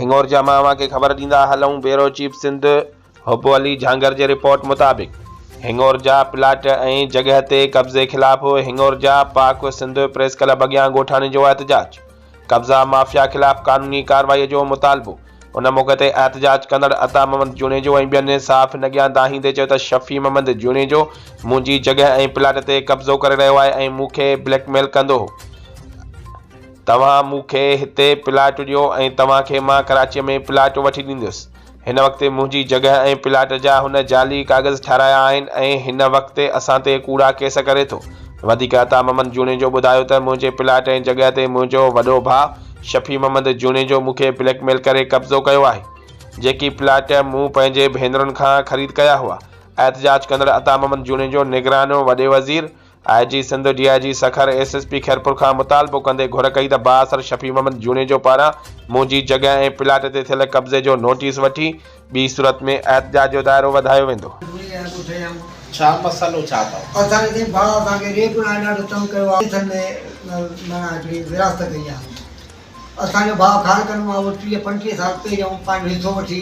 هنڱور جا مان اوهان کي خبر ڏيندا هلئون بيورو چيف سنڌ حب علي جهانگر جي رپورٽ مطابق هنڱور جا پلاٽ ۽ جڳهه تي قبضي خلاف هنڱور جا پاڪ سنڌ پريس ڪلب اڳيان ڳوٺاڻي جو احتجاج قبضا مافيا خلاف قانوني ڪارروائي جو مطالبو ان موقعي تي احتجاج ڪندڙ عطا محمد جوڻيجو ۽ ٻين صحافين اڳيان دانهيندي چيو ته شفيع محمد جوڻيجو منهنجي جڳهه ۽ پلاٽ تي قبضو ڪري رهيو آهي ۽ مون کي بليڪ ميل ڪندو هو توهان مون کي هتي پلاٽ ڏيو ۽ توهان کي مان ڪراچيء ۾ پلاٽ وٺي ڏيندس. هن وقت منهنجي جڳهه ۽ پلاٽ جا هن جعلي ڪاغذ ٺهرايا آهن ۽ هن وقت اسان تي ڪوڙا ڪيس ڪري ٿو. وڌيڪ عطا محمد جوڻيجو ٻڌايو ته منهنجي پلاٽ ۽ جڳهه تي منهنجو وڏو ڀاء شفيع محمد جوڻيجو مون کي بليڪ ميل ڪري قبضو ڪيو آهي. جيڪي پلاٽ مون پنهنجي ڀينرن کان خريد ڪيا هئا. احتجاج ڪندڙ عطا محمد جوڻيجو نگران وڏي وزير، I G Sindh, D I G Sukkur, S S P Khairpur کان مطالبو ڪندي گهر ڪئي ته بااثر شفيع محمد جوڻيجو پاران منهنجي جڳهه ۽ پلاٽ تي ٿيل قبضي جو نوٽيس وٺي ٻي صورت ۾ احتجاج جو دائرو وڌايو ويندو. ڇا مسئلو ڇا اٿو؟ اسان کي سائين ڀاء اسان کي ريپ ۽ ڏاڍو تنگ ڪيو آ ڪيسن ۾ معنيٰ هڪڙي ورهاست ڪئي آ اسان جو ڀاء خارڪن مان اهو ٽيهه پنجٽيهه سال پهريون پنهنجو حصو وٺي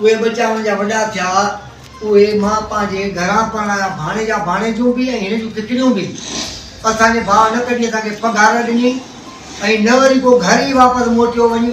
اهي ٻچا منهنجا وڏا ٿيا، اهي مان پنهنجي گهران پرڻايا، ڀاڻيجا ڀاڻيجيون به ۽ هن جون ڪڪڙيون به. اسان جي ڀاء نه ڪڏهن اسان کي پگهار ڏني ۽ نه وري ڪو گهر ئي واپس موٽيو وڃي.